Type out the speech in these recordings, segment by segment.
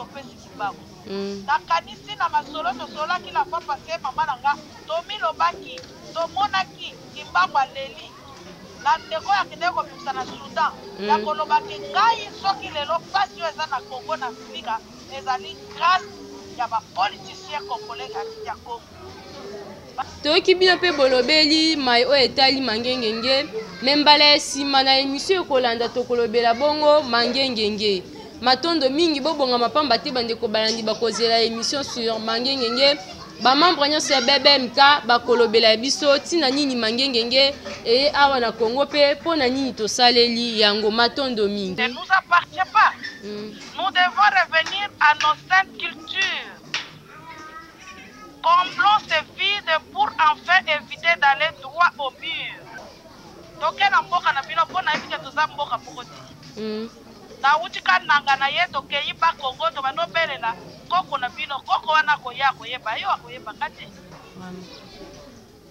topesi kimbangu mm. nakanisi na masolo tosolaki na papa se mama na nga tomilobaki tomonaki kimbangu aleli na ndeko ya kende kobimisa na sudan mm. ya koloba ke ngai soki lelo mpasi oyo eza na congo na afrika ezali grâce ya bapoliticien congolais ya congo toyoki bino mpe bolobeli mai oyo etali mangengenge me mbala ya nsima na emisio ekolanda tokolobela bongo mangengenge matondo mingi bobongama mpamba te bandeko balandi bakozela emission sur mangengenge bamembre nyonso ya bbmk bakolobela ya biso ntina nini mangengenge eye awa na congo mpe mpo na nini tosaleli yango matondo mingi mm. Nous devons revenir à nos saintes cultures. Complot se vide pour enfin eviter d'aller droit au mur. Toke na mboka na bino po nayebi ke toza mboka moko te. Nawuti kananga na ye tokeyi bas congo tobandi obelela koko na bino koko wana akoya akoyeba yo akoyeba nga te.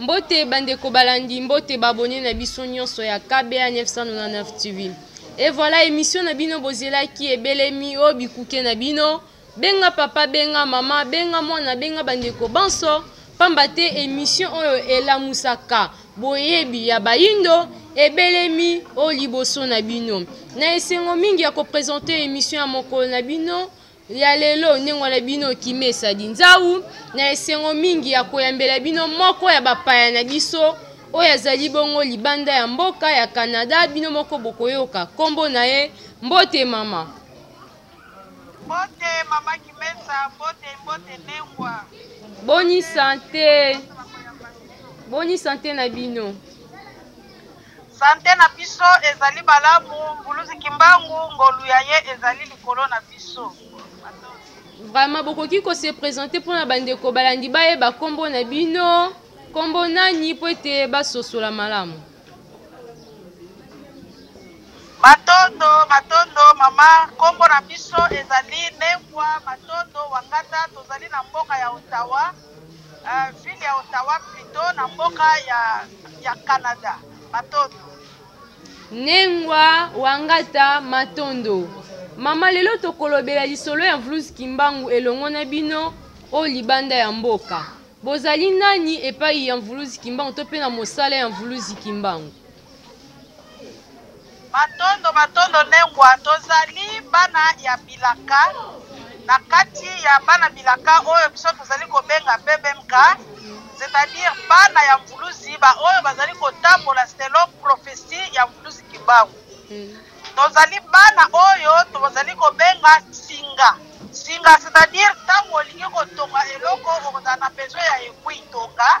mbote bandeko balandi mbote babone na biso nyonso ya kba 999 tv e voilà émission na bino bozelaki ebelemi o bikuke na bino benga papa benga mama benga mwana benga bandeko banso pamba te émission oyo elamusaka boyebi ya bayindo ebelemi o liboso na bino na esengo mingi ya kopresente émission ya mokolo na bino ya lelo ndenge wana bino okimi esadi nzau na esengo mingi ya koyambela bino moko ya bapaya na biso oyo azali bongo libanda ya mboka ya canada bino moko bokoyoka nkombo na ye mbote mama mbote mama kimesa mbote mbote nengwa boni sante boni sante na bino Sante na biso ezali malamu, Mvuluzi Kimbangu ngolu ya ye ezali likolo na biso. Vraiment bokoki ko se presenter mpo na bandeko balandi bayeba nkombo na bino, nkombo nani mpo ete basosola malamu. Matondo, matondo mama, nkombo na biso ezali Nengwa Matondo Wangata, tozali na mboka ya Ottawa. Euh, ville ya Ottawa plutot na mboka ya, ya Canada. Matondo. Nengwa Wangata Matondo. Mama lelo tokolobela lisolo ya Vlus Kimbangu elongo na bino o libanda ya mboka. Bozali nani epai ya Mvuluzi Kimbangu to mpe na mosala ya Mvuluzi Kimbangu? Matondo matondo Ne Ngwa, tozali bana ya bilaka, na kati ya bana bilaka oyo biso tozali kobenga BBMK, c'est à dire bana ya Mvuluzi ba oyo bazali kotambola selon prophetie ya Mvuluzi Kimbangu. Tozali bana oyo tozali kobenga singa singa, c'est à dire ntango olingi kotonga eloko okozala na besoin ya aiguille tonga.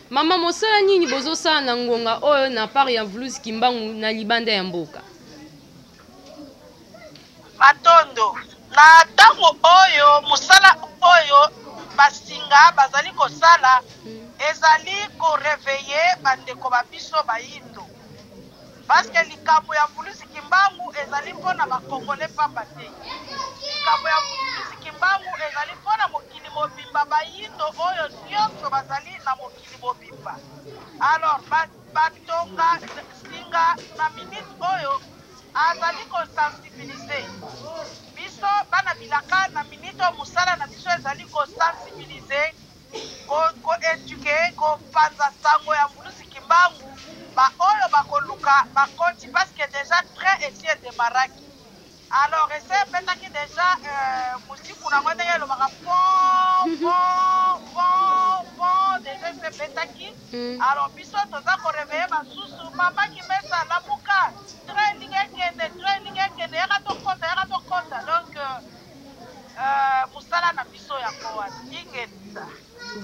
Maman mosala nini bozosala na ngonga oyo na part ya Vuluzi Kimbangu na libanda ya mboka? Matondo. Na ntango oyo mosala oyo basinga bazali kosala ezali koreveille bandeko ba biso bayindo. Parce que likambo ya Mvuluzi Kimbangu ezali mpo na ba Congolais pamba te. Likambo ya Mvuluzi Kimbangu ezali mpo na mokili mobimba, bayindo oyo nionso bazali na mokili mobimba. Alors, ba ba tonga singa na minute oyo azali ko sensibiliser biso bana bilaka na minute oyo mosala na biso ezali ko sensibiliser ko ko eduquer ko panza sango ya mvuluzi kimbangu ba oyo ba koluka ba koti parce que dejà train esi e demarraki alors esi e betaki dejà euh, musiku na ngo ndenge elobaka pom pom pom pom dejà esi e betaki mm. alors biso toza ko reveiller ba susu mama ki mesa lamuka train lingi ekende train lingi ekende yaka to kota yaka to kota donc euh, Euh, musala na biso yango wana ingeta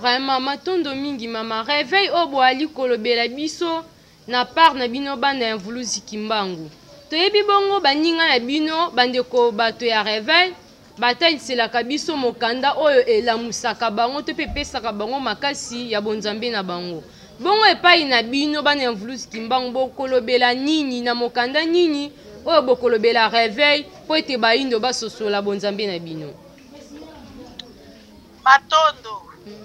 vraiment matondo mingi mama reveil oyo boali kolobela biso na part na bino bana ya mvuluzi kimbangu toyebi bongo baninga na bino bandeko bato ya reveil bataliselaka biso mokanda oyo elamusaka bango to mpe epesaka bango makasi ya bonzambe na bango bongo epai na bino bana ya mvuluzi kimbangu bokolobela nini na mokanda nini oyo bokolobela reveil mpo ete baindo basosola bonzambe na bino. Matondo.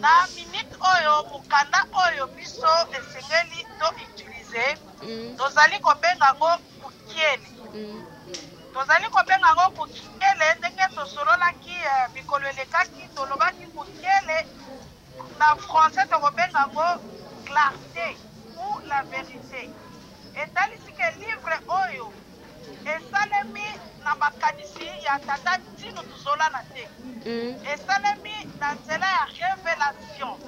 Na minute oyo, mokanda oyo biso esengeli to utiliser, mm. tozali kobenga yango kukiele. Mm. Tozali kobenga yango kukiele ndenge tosololaki eh, mikolo elekaki, tolobaki kukiele na français tokobenga yango clarté ou la vérité. etalisi ke livre oyo Esalemi na makanisi ya tata Ntinu Tuzolana te. Esalemi na nzela ya revelation.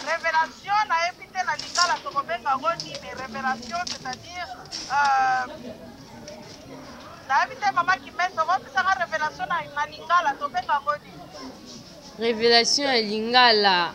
Revelation nayebi te na lingala tokobenga yango nini revelation c'est-à-dire euh, nayebi te mama Kimese okopesaka revelation na lingala tobenga yango nini? Revelation ya lingala.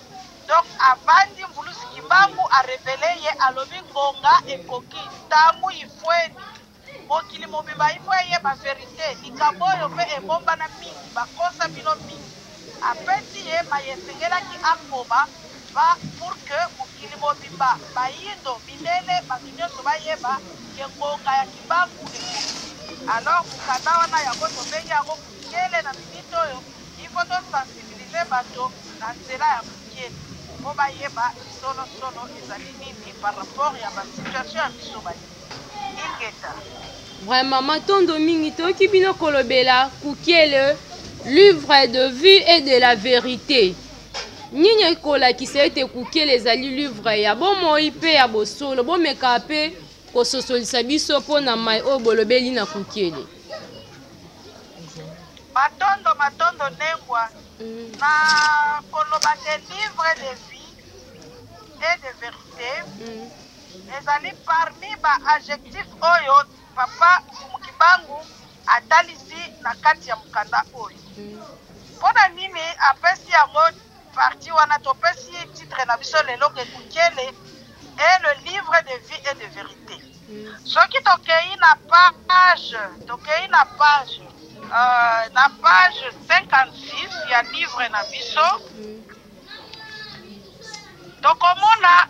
Donc avandi mvuluzi kimbangu a revele ye alobi ngonga ekoki tangu ifueni mokili mobimba il faut eyeba verite likambo oyo pe ebombana mingi bakosa bino mingi apesi ye maye esengelaki akoba va pour que mokili mobimba bayindo mindele batu nionso bayeba ke ngonga ya kimbangu ekoki alors mokanda wana yango tobengi yango Mokele na minute oyo il faut to sensibiliser bato na nzela ya mokele po bayeba solo solo ezali nini par rapport ya ba situation ya biso baye ingeta. Vraiment, matondo mingi toyoki bino kolobela kukiele livre de vue et de la vérité nini ekolakisa ete kukiele ezali livre ya bomoi mpe ya bosolo bomekaa mpe kososolisa biso mpo na mai oyo bolobeli na kukiele Matondo matondo Nengwa mm. na koloba te livre de vie et de verite mm. ezali parmi ba adjectif oyo papa Mukibangu atalisi na kati ya mokanda oyo mm. mpo na nini apesi yango Partie wana topesi ye titre na biso lelo ke Kukele est le livre de vie et de verite. Soki tokei na page, tokei na page, euh, na page 56 ya livre na biso, tokomona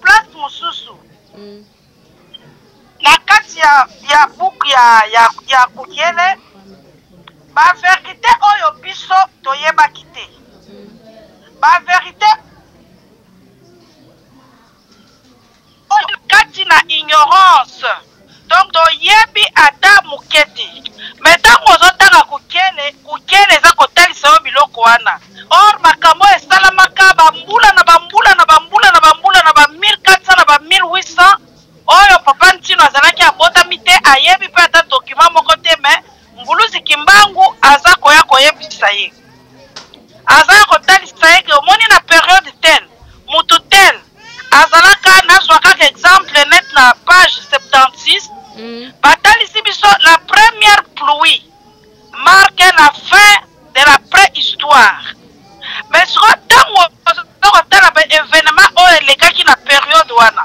Place mosusu na kati ya, ya buku ya, ya, ya Kukiele, baverite oyo biso toyebaki te, baverite oyo kati na ignorance Donc to yebi ata muke te. Mais tango ozo tanga kukele, kukele eza ko talisa yo biloko wana. Or makambo oyo esalamaka ba mbula na ba mbula na ba mbula na ba mbula na ba 1400 na ba 1800 oyo papa Ntino azalaki abotami te, ayebi pe ata document moko te mais Mvuluzi Kimbangu aza koya koyebisa ye, aza ya kotalisa ye ke omoni na periode tel mutu tel azalaka, nazwa kaka exemple net na page 76 mm. batalisi biso la première pluie marque la fin de la préhistoire mais sikoyo ntango tokotala ba événement oyo elekaki na periode wana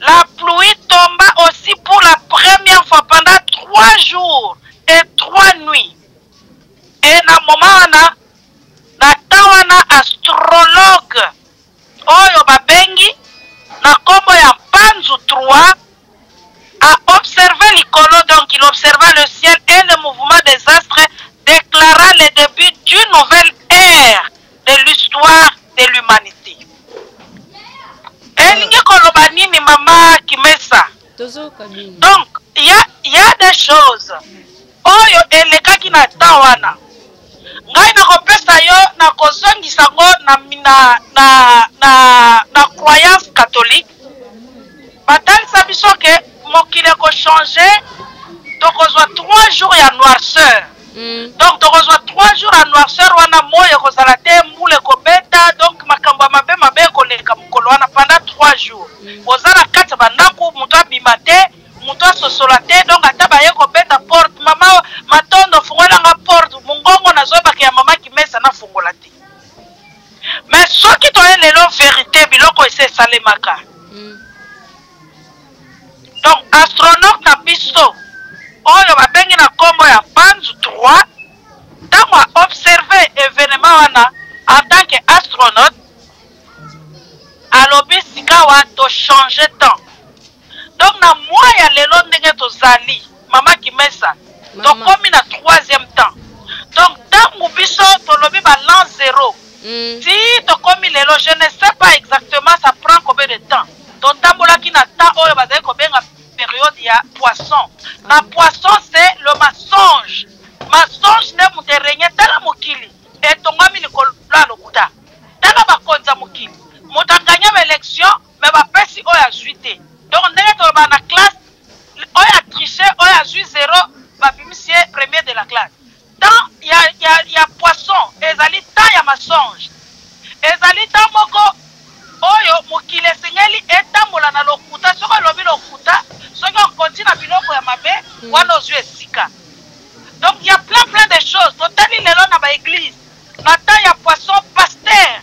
La pluie tomba aussi pour la première fois pendant trois jours et trois nuits. Et na moment wana, na temps wana astrologue oyo babengi na kombo ya Panzu 3 a observé l'icône, donc il observa le ciel et le mouvement des astres déclara le début d'une nouvelle ère de l'histoire de l'humanité elingi koloba nini mama kimesa donc ya, ya des choses oyo elekaki na temps wana ngai nakopesa yo nakozongisa ngo na, na, na, na, na croyance catholique batalisa biso ke mokili eko change tokozwa 3 jours ya noirceur mm. donc tokozwa 3 jours ya noirceur wana moi ekozala te mbula ekobeta donc makambo ya mabe mabe ekoleka mokolo wana pendant 3 jours mm. oza na kati ya bandako moto abima te moto asosola te donc ata baye kobeta porte mama matondo fungolanga porte mongongo nazoyebaka ya mama kimesa nafungola te mais soki toye lelo verité biloko esi esalemaka Donc astronaute na biso oyo babengi na kombo ya Panzu 3 tango a observer evenement wana en tant que astronaute alobi sikawa to changer temps donc na mois ya lelo ndenge tozali Maman Kimesa, tokomi na troisième temps. Donc tangu biso tolobi ba l'an zero. Mm. Ti tokomi lelo, je ne sais pas exactement ça prend combien de temps. Totambolaki na temps oyo bazali kobenga période ya poisson. Na ah. poisson c'est le mensonge. Mensonge nde moto erenye tala mokili etongami likolo ya lokuta. Tala bakonzi ya mokili. Moto aganya ba élection mais ba pesi oyo azui te donc ndenge tolobaka na classe oyo a triche oyo azui zero babimisi ye premier de la classe temps ya, ya, ya poisson ezali temps ya masonge ezali temps moko oyo mokili esengeli etambola na lokuta soki olobi lokuta soki okonti na biloko ya mabe hmm. wana ozwi esika donc ya plein plein de choses totali lelo na baeglise na temps ya poisson paster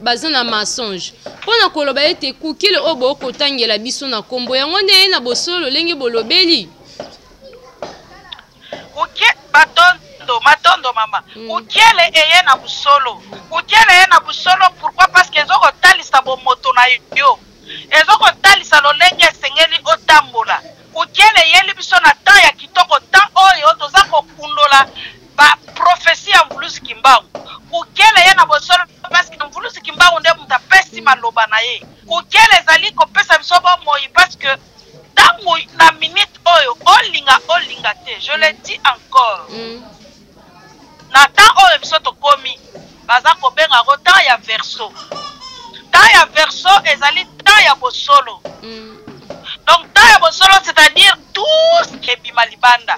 baza na mensonge mpo na koloba ete kukele oyo boyo kotangela biso na nkombo yango nde eye na bosolo lolenge bolobeli kuke batondo matondo mama mm. kukele eye na bosolo kukele eye na bosolo pourkui parce que ezokotalisa bomoto na yo ezokotalisa lolenge esengeli otambola kukele eyeli biso na temps ya kitoko temps oyo toza kokundola ba prophetie ya mvuluzi kimbangu kokela ye na bosolo parce que mvuluzi kimbangu nde moto apesi maloba na ye kokela ezali kopesa biso bomoi parce que ntango na minute oyo olinga olinga te je le dis encore mm. na temps oyo biso tokomi baza kobenga yango temps ya verso temps ya verso ezali temps ya bosolo mm. donc temps ya bosolo c'est-à-dire tout ebima libanda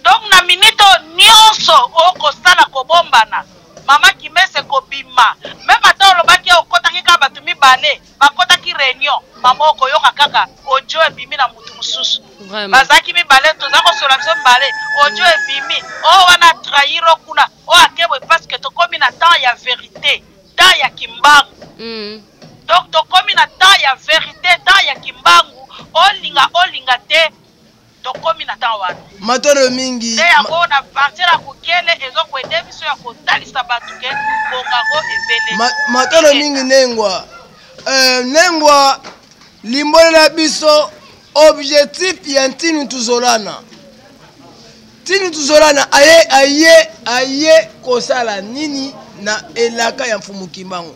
Donc na minute oyo nionso oko sala ko bombana maman kimese eko bima meme ata olobaki ya okotaki kaka batu mibale ba kotaki reunion maman oko yoka kaka audio ebimi na mutu mususu bazalaki mibale toza ko sola biso mibale audio ebimi o oh, wana trahir o kuna o oh, akebwe parce que tokomi na temps ya verite temps ya kimbangu mm. donc tokomi na temps ya verite temps ya kimbangu olinga olinga te tokomi na ntango wana matondo mingi nde yango na partir ya kokele ezokwende biso ya kotalisa bato ke bongango ebele Ma, matondo mingi nengwa uh, nengwa limbolela biso objectif ya ntini tuzolana ntini tuzolana aye aye aye kosala nini na elaka ya mfumu kimbangu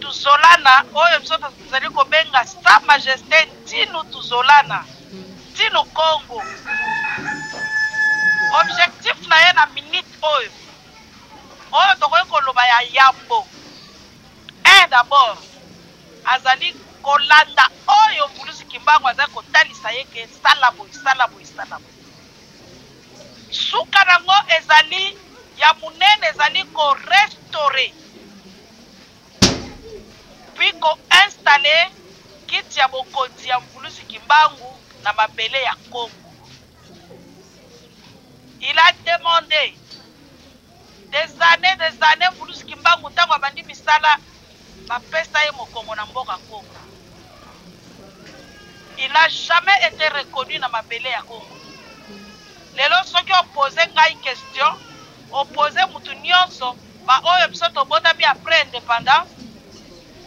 Tuzolana, oyo biso tozali kobenga Sa Majeste Ntinu Tuzolana, Ntinu Kongo, objectif na ye na minute oyo, oyo tokoki koloba ya yambo, un d'abord, azali kolanda oyo Mvuluzi Kimbangu azali kotalisa ye ke sala boye, sala boye, sala boye. Suka na yango ezali ya munene, ezali ko restaurer puis ko installer kiti ya bokonzi ya mvuluzi kimbangu na mabele ya Congo. Il a demande des annees des annees mvuluzi kimbangu tango abandi misala bapesa ye mokongo na mboka Congo. Il a jamais été reconnu na mabele ya Congo. Lelo soki opose ngai question opposer mutu nionso ba oyo biso tobotami après independance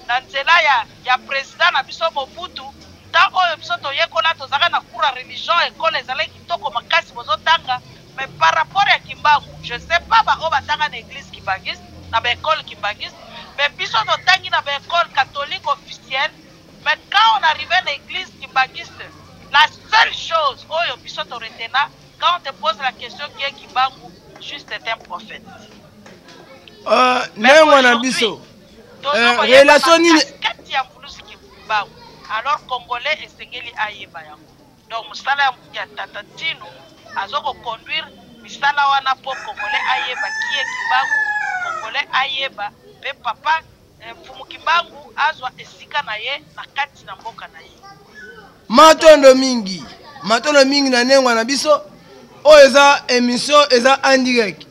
na nzela ya ya president na biso Mobutu temps oyo biso toyekola tozalaka na cours ya religion ecole ezalaki kitoko makasi bozotanga mais par rapport ya Kimbangu je sais pas ba oyo batanga na eglise kimbanguiste na ba ecole kimbanguiste mais biso totangi na ba ecole catholique officielle mais quand on arrive na eglise kimbanguiste la seule chose oyo biso to retena Quand on te pose la question qui est Kimbangu, juste est un prophète. Euh, mais moi na biso. Euh, relation nini kati ya Mvuluzi Kimbangu. Alors congolais esengeli ayeba yango. Donc musala ya tata Tino azoko conduire misala wana po congolais ayeba qui est Kimbangu, congolais ayeba pe papa Mfumu Kimbangu azwa esika na ye na kati na mboka na ye. Matondo mingi, matondo mingi na nengwa na biso. Oyo eza emission eza en direct.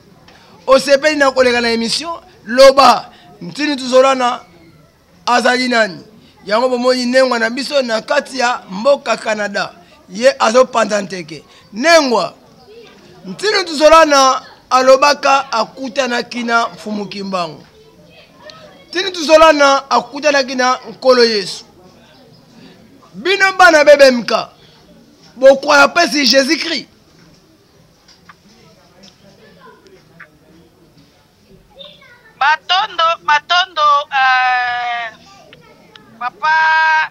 Osepeli na koleka na emission, loba ntini tuzolana azali nani. Yango bomoni nengwa na biso na kati ya mboka Canada. Ye azopanza nteke. Nengwa ntini tuzolana alobaka akutanaki na Mfumu Kimbangu. tini tuzolana akutanaki na nkolo yesu bino bana bbmk bokwaya mpesi jésus christ matondo matondo uh, papa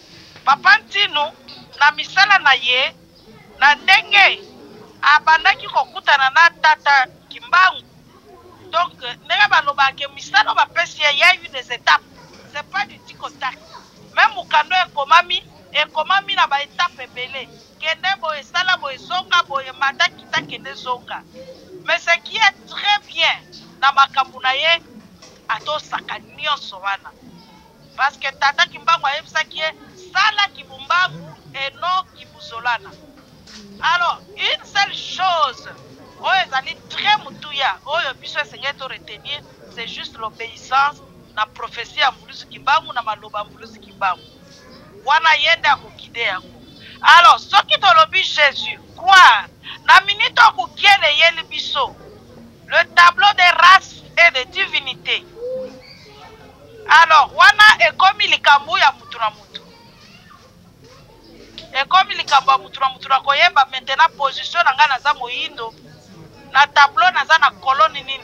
Papa Ntinu, na misala na ye, na ndenge abandaki kokutana na Tata Kimbangu, donc ndenge balobaka que misala oyo bapesi ye, il ya eu des etapes, c'est pas du tic au tac, meme mokanda oyo ekomami, ekomami na ba etapes ebele, kende boye, sala boye, zonga boye, mata, kita, kende, zonga, mais ce qui est très bien na makambo na ye, atosaka nionso wana. Parce que tata kimbangu ayebisaki ye sala kibumbagu et non kibuzolana. Alors une seule chose oyo ezali très mutuya oyo biso esengeli to retenir c'est juste l'obéissance na prophetie ya mvuluzi kimbangu na maloba ya mvuluzi kimbangu wana ye nde akokide yango alors soki tolobi jésus croire na minute oyo mokiele eyeli biso Le tableau des races et des divinités. Alors, wana ekomi likambo ya mutu na mutu. Ekomi likambo ya mutu na mutu na koyeba maintenant position na ngai naza moyindo. Na tableau naza na colonne nini?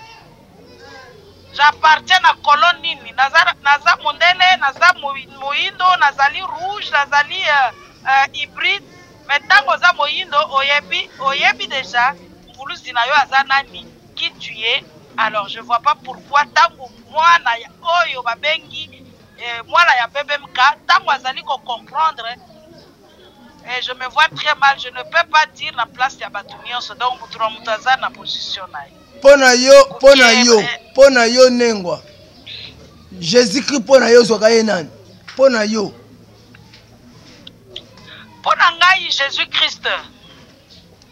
J'appartiens na colonne nini? Naza naza mondele, naza moyindo, nazali rouge, nazali euh, euh, hybride. Mais tango oza moyindo oyebi oyebi dejà mvuluzi na yo aza nani qui tu es alors je vois pas pourquoi tango mwana ya oyo ba bengi eh, mwana ya BBMK tango azali ko comprendre eh, je me vois très mal je ne peux pas dire na place ya bato nyonso donc moto na moto aza na position na ye mpo na yo mpo na yo mpo na yo nengwa jésus christ mpo na yo ozwaka ye nani mpo na yo Mpo na ngai, Jesus Christ,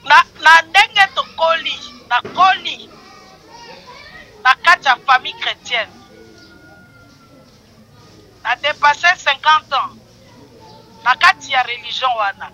na, na ndenge tokoli, nakoli na kati ya famille chrétienne. Na depasse 50 ans na kati ya religion wana.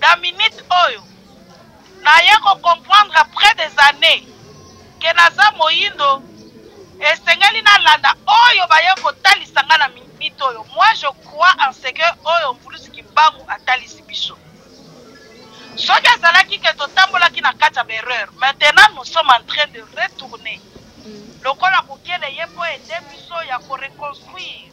Na minute oyo, naye ko comprendre après des annees que naza moyindo, esengeli nalanda oyo baye kotalisa nga na minute oyo. Moi je crois en ce que oyo Mvuluzi Kimbangu atalisi biso. Soki ezalaki que totambolaki na kati ya ba erreurs, maintenant nous sommes en train de retourner lokola kokele ye mpo aide biso ya ko reconstruire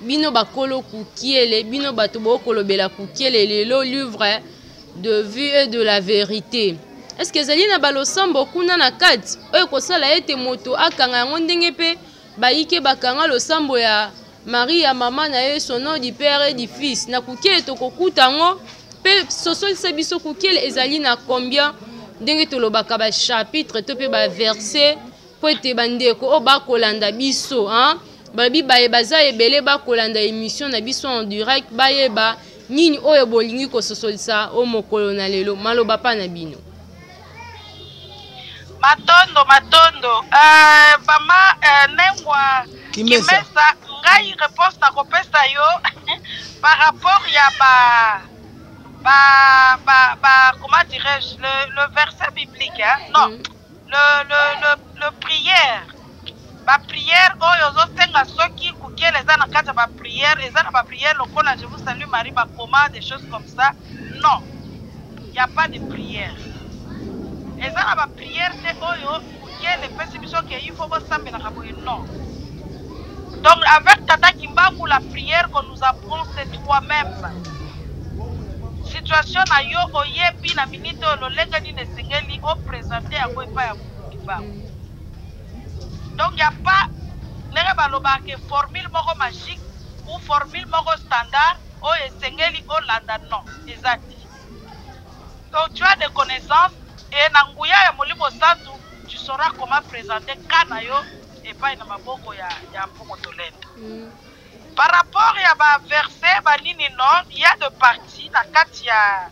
bino bakolo kukiele bino bato bokolobela kukiele lelo livre de vue et de la verité eske ezali na balosambo kuna na kati oyo ekosala ete moto akanga yango ndenge mpe bayike bakanga losambo ya maria mama na ye sono du père et du fils na kukiele tokokuta yango mpe sosolisa biso kukiele ezali na combien ndenge tolobaka bachapitre to mpe baverse mpo ete bandeko oyo bakolanda biso hein? balobi baye baza ebele bakolanda émission na biso en direct bayeba nini oyo bolingi kososolisa o mokolo na lelo maloba pa na bino matondo matondo uh, mama uh, nengwa kimesa, kimesa ngai réponse nakopesa yo par rapport ya ba ba ba ba comment dirais-je le, le verset biblique hein? non mm. le, le, le, le prière baprière oyo ozosenga soki kukela eza na kati ya baprière eza na baprière lokola je vous salue marie bakoma des choses comme ça non y a pas de prière eza na baprière te oyo kukela epesi biso ke il faut bosambelaka boye non Donc avec Tata Kimbangu la prière qu'on nous apprend c'est toi-même. Situation na yo oyebi na minute oyo lolenge nini esengeli o presenter yango epai ya Mukulu Kimbangu. Donc il n'y a pas ndenge balobaka ke formule moko magique ou formule moko standard oyo esengeli olanda non eza te. Donc tu as des connaissances et na nguya ya Molimo Santu tu sauras comment présenter cas na yo epai na maboko ya, ya mpongo tolendo mm. par rapport ya baverse banini non ya de parti na kati ya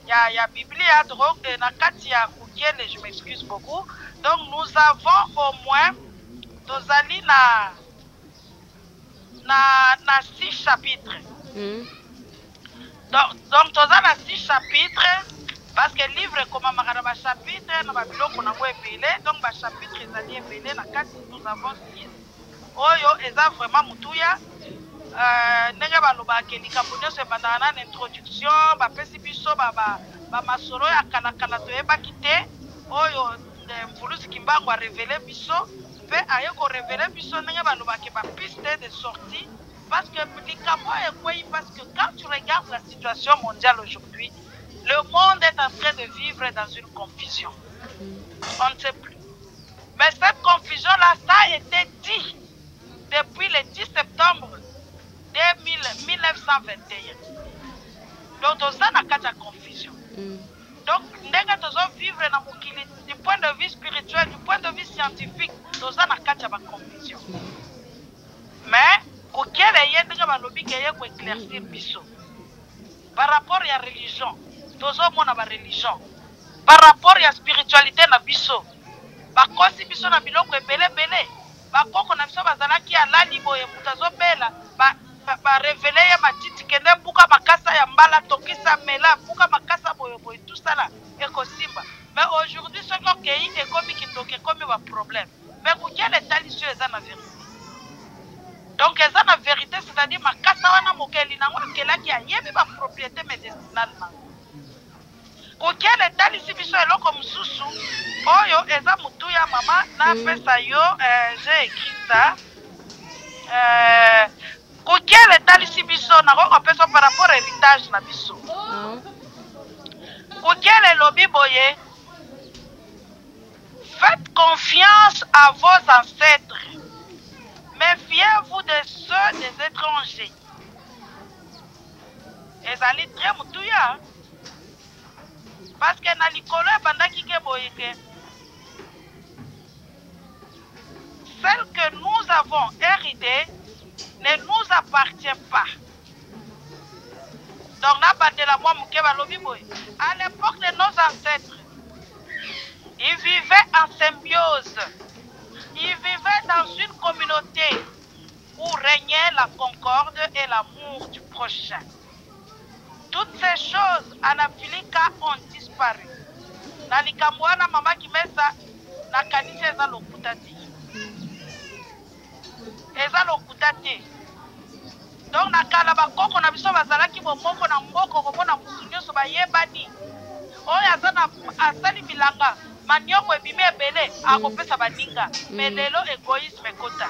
ya, ya biblia donc eh, na kati ya kukele je m'excuse beaucoup donc nous avons au moins tozali na na na six chapitre mm. donc, donc toza na six chapitre parce que livre ekomamaka na bachapitre na babiloko nango ebele donc bachapitre ezali ebele na kati nous avons six oyo eza vraiment motuya euh, ndenge balobaka likambo nyonso ebandaka na na introduction bapesi biso bamasolo ya kalakala toyebaki te oyo mvuluzi kimbangu arevele biso Pe aye ko reveler biso ndenge ba lobake ba pistes de sortie parce que likambo oyo ekweyi parce que quand tu regardes la situation mondiale aujourd'hui le monde est en train de vivre dans une confusion on ne sait plus mais cette confusion là ça a été dit depuis le 10 septembre 2000, 1921 donc toza na kati ya confusion mm. Donc ndenge tozo vivre na mokili du point de vue spirituel, du point de vue scientifique, toza na kati ya ba confusion. Mais Bukele ye ndenge balobi ke ye ko éclaircir biso par rapport ya religion, tozo mona ba religion par rapport ya spiritualite na biso bakosi biso na biloko ebele ebele. Ba koko na biso bazalaki alali boye mutu azo bela ba ba revele ye matiti kende buka makasa ya mbala tokisa mela buka makasa boye boye tout ça la ekosimba mais aujourd'hui soki okeyi ekomi kindoki ekomi ba problème mais kukiala etalisi yo eza na verite donc eza na verite c'est à dire makasa wana mokeli nango akelaki ayebi ba propriété medicinale nango Kukele etalisi biso eloko mususu oyo eza mutuya mama na pesa yo eh, je ecrita eh, kukele etalisi biso nakoki kopesa par rapport heritage na biso mm. kukele elobi boye faites confiance à vos ancêtres méfiez-vous de ceux des étrangers ezali très motuya Parce que na likolo ebandaki ke boye ke celle que nous avons héritée ne nous appartient pas. Donc na bandela mwa moke balobi boye à l'époque de nos ancêtres ils vivaient en symbiose. Ils vivaient dans une communauté où régnait la concorde et l'amour du prochain. Toutes ces choses en Afilika ont disparu na likambo wana mama Kimesa na kanisi eza lokuta te. Eza lokuta te. Donc na kala ba koko na biso bazalaki bomoko na mboko komona mutu nyoso bayebani. Oyo aza na asali bilanga manioko ebimi ebele akopesa baninga. Mais lelo egoisme ekota.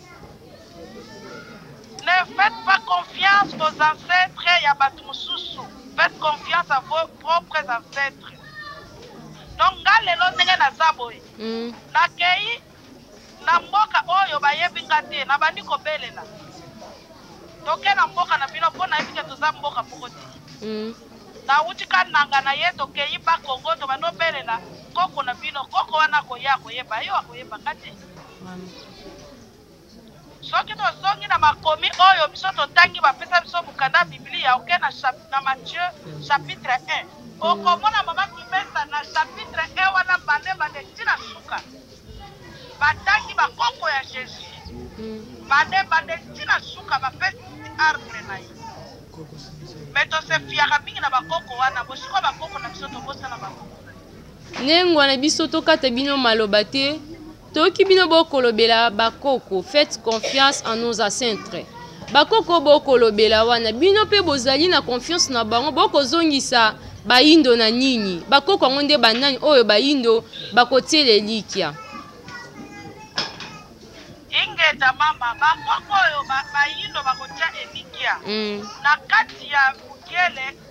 Ne faites pas confiance aux ancetres ya batu mususu. Faites confiance à vos propres ancetres. Donc nga lelo ndenge naza boye. Mm. Nakei na mboka oyo bayebi nga te, nabandi kobelela. Toke na mboka na bino mpo nayebi te toza mboka moko te. Mm. Nauti kananga na ye tokei ba Kongo tobandi obelela koko na bino. Koko wana akoya akoyeba yo akoyeba nga te. soki tozongi na makomi oyo biso totangi bapesa biso mokanda ya biblia oke na, na matthieu chapitre 1 okomona mama kimesa na chapitre 1 wana bande bande ti na suka batangi bakoko ya jésus bande bande ti na suka bapesi arbre na ye me tosefiaka mingi na bakoko wana bosikoyo bakoko na biso tobosana bakoko Nengua na biso tokata bino maloba te toyoki bino bokolobela bakoko faites confiance en nos ancêtres bakoko bokolobela wana bino mpe bozali na confiance na bango bokozongisa bayindo na nini bakoko yango nde banani oyo bayindo bakotiela elikya ingeta mama bakoko oyo bayindo bakotia elikya mm. na kati ya mokele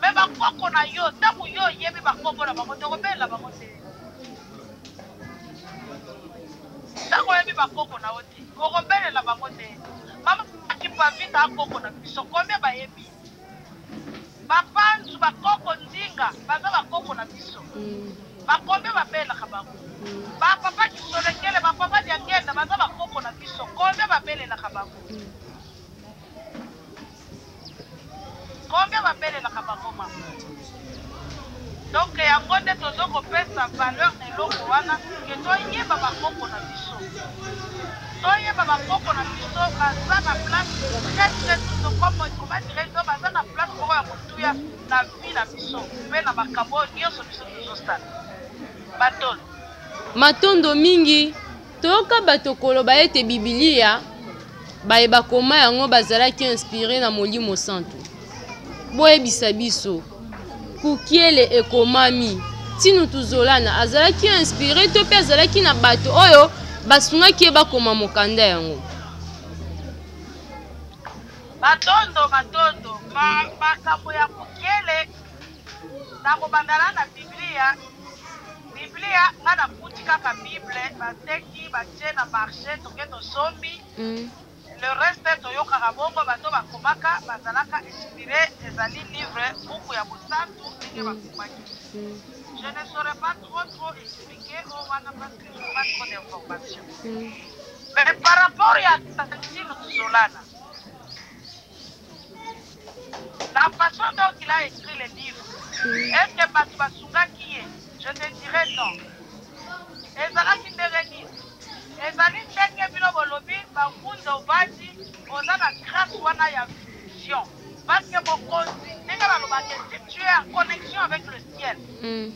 Mais ba koko na yo tango yo oyebi ba kombo na bango te okobelela bango te. Tango oyebi ba koko na yo te okobelela bango te. Mama Kipavita koko na biso combien bayebi? Bapanzu ba koko nzinga baza ba koko na biso. Mm. Ba combien babelaka bango? Mm. Ba papa Kisolekele, ba papa Diangenda baza ba koko na biso combien babelelaka bango? Mm. Combien ba belelaka ba boma donc yango nde tozo ko pesa valeur na eloko wana que to yeba ba koko na biso to yeba ba koko na biso baza na place très très tout comme comment dirais je baza na place moko ya kotuya na vie na biso pe na makambo nyonso biso tozo sala batolo matondo mingi Toyoka bato koloba ete Biblia, baye bakoma yango bazalaki inspire na Molimo Santu. Boyebisa biso, Kukiele ekomami, Tinu Tuzolana azalaki inspire to mpe azalaki na bato oyo basungaki ye bakoma mokanda yango. Matondo, matondo. Ma, makambo ya Kukiele Na kobanda na na Biblia, Biblia nga na kuti kaka Bible ba teki ba tie na marche toke to sombi. Mm. Le reste toyokaka bongo bato bakomaka bazalaka inspire ezali livre buku ya bosantu ndenge bakomaki mm. je ne saurais pas trop trop expliquer o oh, wana parce que je pas trop d'information mm. mais par rapport ya tantine tozolana La façon dont il a écrit le livre, est-ce que bato basungaki ye? Je te dirais non. Ezalaki ndenge nini? Ezali ndenge bino bolobi Bakunza Obadi, oza na grâce wana ya vision. Parce que Mokonzi, ndenge balobaka, si tu es en connexion avec le ciel,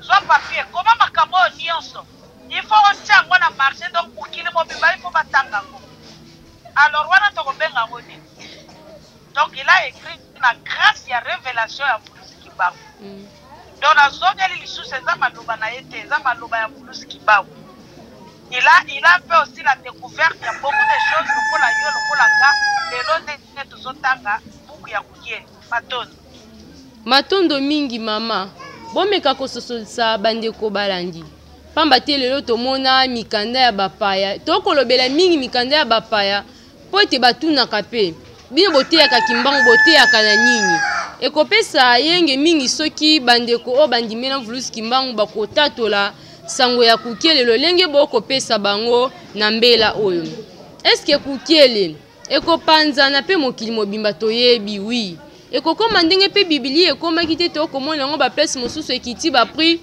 Zwa papier, koma makambo oyo nionso. Il faut otia yango na marche, donc mokili mobimba il faut batanga yango. Alors wana tokobenga yango nini? Donc il a ecrit na grace ya revelation ya Mvuluzi Kimbangu. Mm. Donc nazongeli lisusu eza maloba na ye te, eza maloba ya Mvuluzi Kimbangu. Il a, il a fait aussi la découverte ya beaucoup de choses lokola yo lokola nga lelo nde tozotanga buku ya Kuyeli. matondo matondo mingi mama bomeka kososolisa bandeko balandi mpamba te lelo tomona mikanda ya bapaya tokolobela mingi mikanda ya bapaya mpo ete batunaka mpe bino boteyaka kimbangu boteyaka na nini ekopesa yenge mingi soki bandeko oyo bandimela mvulusi kimbangu bakotatola sango ya kukiele lolenge bokopesa bango na mbela oyo eske kukiele ekopanzana mpe mokili mobimba toyebi wi ekokoma ndenge mpe bibilia ekomaki te tokomona yango baplace mosusu ekiti baprix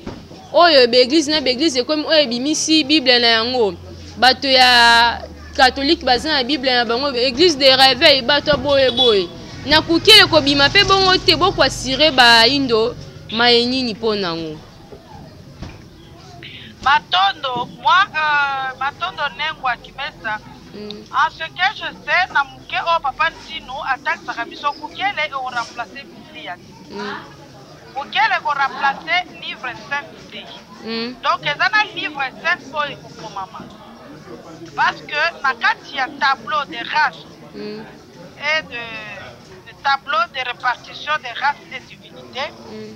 oyo baeglize na baeglize ekomi oyo ebimisi bible na yango bato ya katolike baza na bible na bango eglise de reveil bato boye boye na kuki ekobima mpe bongo te bokwasire baindo maye nini mpo nango Matondo moi euh, matondo nengwa kimesa mm. en ce que je sais na moke oyo papa ntino atakisaka biso mokele ekoremplace biblia te mm. mokele ekoremplace livre saint te mm. donc eza na livre saint oyo ekokomama parce que na kati ya tableau de race mm. et de, de tableau de répartition de race et divinité mm.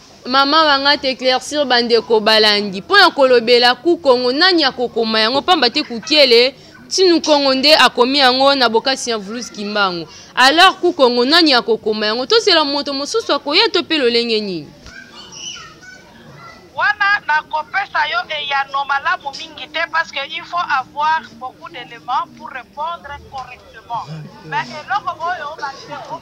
mama wanga te eclaircir bandeko balandi mpo na kolobela ku kongo nani akokoma yango mpamba te kukiele tinu kongo nde akomi yango na bokasi ya vulus kimbangu alors ku kongo nani akokoma yango tozela moto mosusu akoya to mpe lolenge nini wana nakopesa yo eyano malamu mingi te parce que il faut avoir beaucoup d'éléments pour répondre correctement mais eloko oyo bandeko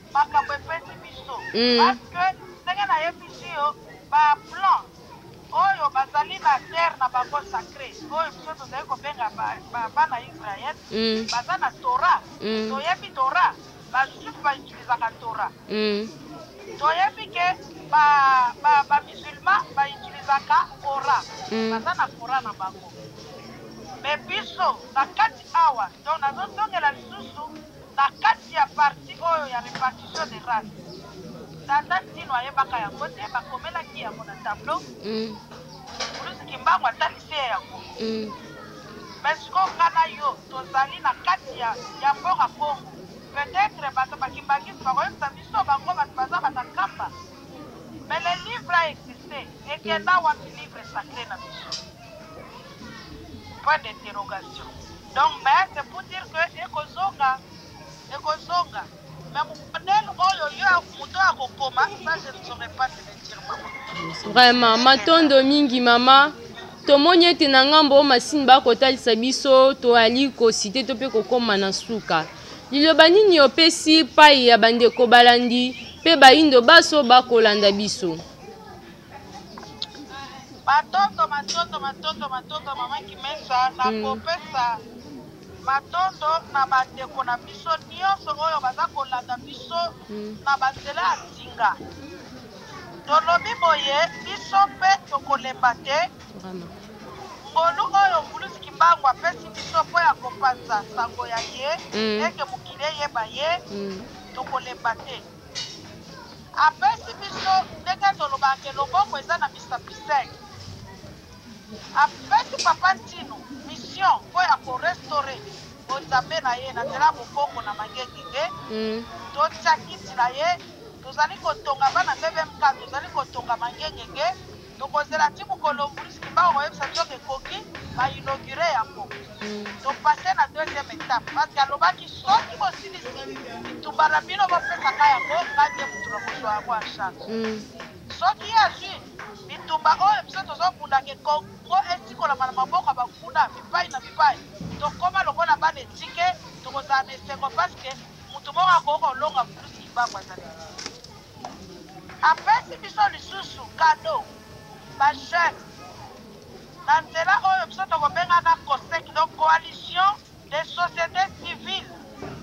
makambo epesi biso mm. parce que ndenge nayebisi yo baplan oyo bazali na terre na bango sacré oyo biso tozali kobenga bana israel mm. baza na tora mm. toyebi tora bajuif bautilisaka tora toyebi ke bamusulman bautilisaka kora baza na kora na bango me biso na kati awa donc nazozongela lisusu Na kati ya partie oyo ya repartition des races, tata Ntino ayebaka yango te, bakomelaki yango na tableau. Muluzi Kimbangu atalisi ye yango. Mais sikoyo nga na yo tozali na kati ya ya mboka Congo. Peut-etre bato ba Kimbanguiste bakoyebisa biso bango bato baza ba Nakamba. Mais le livre a existe. Ekenda wapi livre sacre na biso? Point d'interrogation. Donc mais c'est pour dire que ekozonga ekozonga mais modèle oyo yo moto ya kokoma ça je ne saurais pas te le dire mama vraiment matondo mingi mama tomoni ete na ngambo oyo masini bakotalisa biso toyali kosite to mpe kokoma na suka liloba nini opesi pai ya bandeko balandi mpe baindo baso bakolanda biso matondo matondo matondo matondo mama kimesa na mm. kopesa matondo na bandeko na biso nyonso oyo baza kolanda biso mm. na banzela ya nsinga tolobi boye biso mpe tokolemba te ngolu oyo mbulusi kimbangu apesi biso mpo ya kopanza sango ya ye mm. ete mokili eyeba ye tokolemba te apesi biso ndenge tolobaka ke loboko eza na misapi 5 apesi papa ntino mission mpo ya korestore bonzambe na ye na nzela ya bokoko na mangengenge mm. totya kiti na ye tozali kotonga bana bbmk tozali kotonga mangengenge Tokozela ti mokolo Maurice Kimbangu akoyebisa biso ke ekoki, ba inaugurer yango. To passer na deuxième etape parce que alobaki soki bosilisi bitumba na bino bopesa ngai yango, ngai nde mutu nakozua yango en charge. Soki ye azui bitumba oyo biso tozobunda ke Congo esikolama na maboko ya banguna bipayi na bipayi, tokoma lokola bana etike, tokozala na esengo parce que mutu moko akoki kolonga Maurice Kimbangu azali te. Apesi biso lisusu cadeau ba jeunes na nzela oyo biso tokobenga na COSEC, donc Coalition des societes civiles,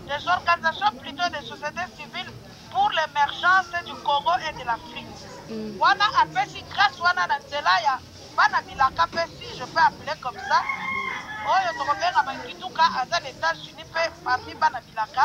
des organisations plutot des societes civiles pour l'emergence du Congo et de l'Afrique. Wana apesi grace wana na nzela ya bana bilaka mpe si je peux appeler comme ça oyo tokobenga ba Kituka aza na Etats-Unis mpe parmi bana bilaka.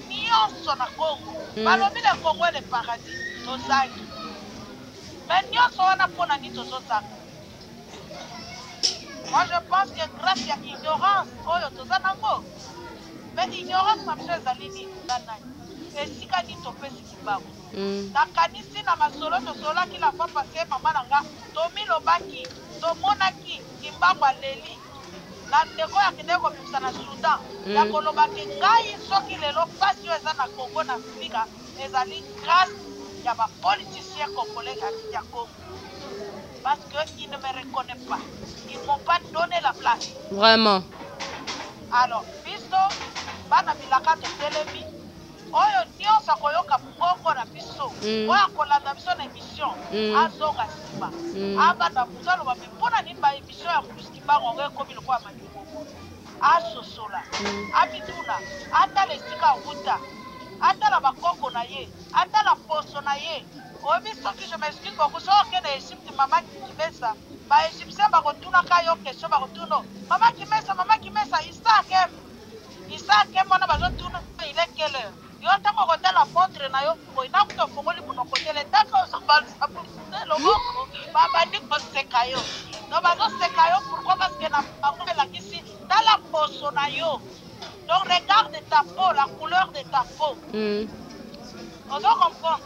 nionso na Congo balobi le Congo est le paradis tozangi mais nionso wana pona nini tozozanga moi je pense que grâce ya ignorance oyo toza nango mais ignorance na biso ezali nini nga nani esika nini topesi libaku nakanisi na masolo tosolaki la fois passe mama na nga tomilobaki tomonaki kimbangu aleli na ndeko oyo akendeki kobimisa na Soudan ya hmm. koloba ke ngai soki lelo mpasi oyo eza na Congo na Afrika ezali grâce ya ba politiciens congolais ya Congo parce que il ne me reconnaît pas ils m'ont pas donné la place vraiment alors biso bana bilaka totelemi oyo nyonso akoyoka mongongo na biso hmm. oyo akolanda biso na émission hmm. azonga nsima abanda moto aloba me mpo na nini Emission ya Bruce Kimbangu yango ekomi lokola malimbomo. Asosola, amituna, atala esika awuta, atala ba koko na ye, atala poso na ye. Oyebi soki, je m'excuse beaucoup, soki oke na Egypte mama Kimesa, ba Egyptiens bakotuna ka yo question, bakotuna yo, mama Kimesa, mama Kimesa, Isaac aime Isaac aime wana bazotuna il est quelle heure? Yo ata moko tala montre na yo boye na kutu ofongoli monoko te le temps que ozobalisa publicité loboko babandi koseka yo no bazoseka yo pourquoi parce que na bango elakisi tala poso na yo donc regarde ta peau la couleur de ta peau mm. ozo comprendre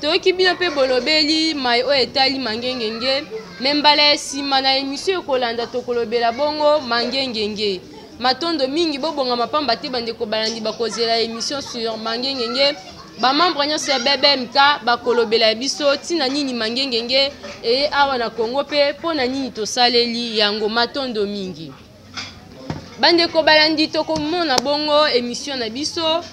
toyoki bino mpe bolobeli mai oyo etali mangengenge me mbala ya nsima na emisio ekolanda tokolobela bongo mangengenge matondo mingi bobongama mpamba te bandeko balandi bakozela emission sur mangengenge bamembre nyonso ya bbmk bakolobela biso ntina nini mangengenge eye awa na congo mpe mpo na nini tosaleli yango matondo mingi bandeko balandi tokomona bongo emission na biso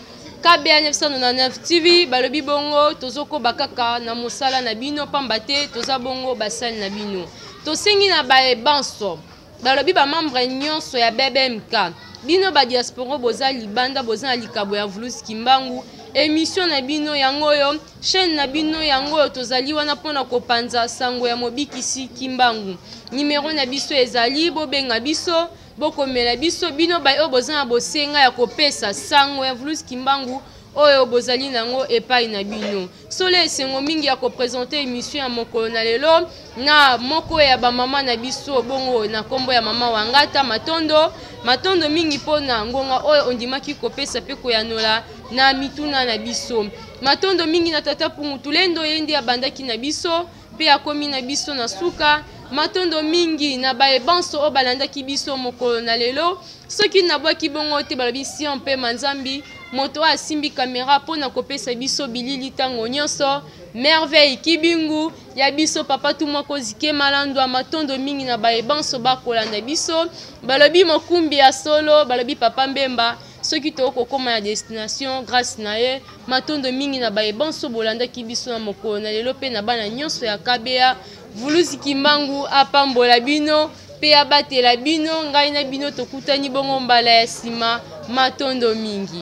kba 999 tv balobi bongo tozokoba kaka na mosala na bino pamba te toza bongo basali na bino tosengi na baye banso balobi bamembre nyonso ya bbmk bino badiasporo boza libanda boza na likabo ya vulus kimbangu emission na bino yango oyo Chaîne na bino yango oyo tozali wana mpo na kopanza sango ya Mobikisi Kimbangu. Nimero na biso ezali bobenga biso, bokomela biso bino baye oyo boza na bosenga ya kopesa sango ya Vulus Kimbangu oyo bozali na yango epai na bino. Solo esengo mingi ya kopresente emission ya mokolo na lelo. na moko ya bamama na biso bongo na nkombo ya mama wangata matondo matondo mingi mpo na ngonga oyo ondimaki kopesa mpe koyanola na mituna na biso matondo mingi na tata pungu tulendo ye nde abandaki na biso mpe akomi na biso na suka matondo mingi na baye banso oyo balandaki biso mokolo na lelo soki nabwaki bongo te balobi sion mpe manzambi moto oyo asimbi kamera mpo na kopesa biso bilili ntango nyonso merveille kibingu ya biso papa tumwa kozike malandwa matondo mingi na baye banso bakolanda biso balobi mokumbi ya solo balobi papa mbemba soki tokoki kokóma na destination grâce na ye matondo mingi na baye banso bolandaki biso na mokolo na lelo mpe na bana nyonso ya kabeya vuluzi kimbangu apambola bino mpe abatela bino ngai na bino tokutani bongo mbala ya nsima matondo mingi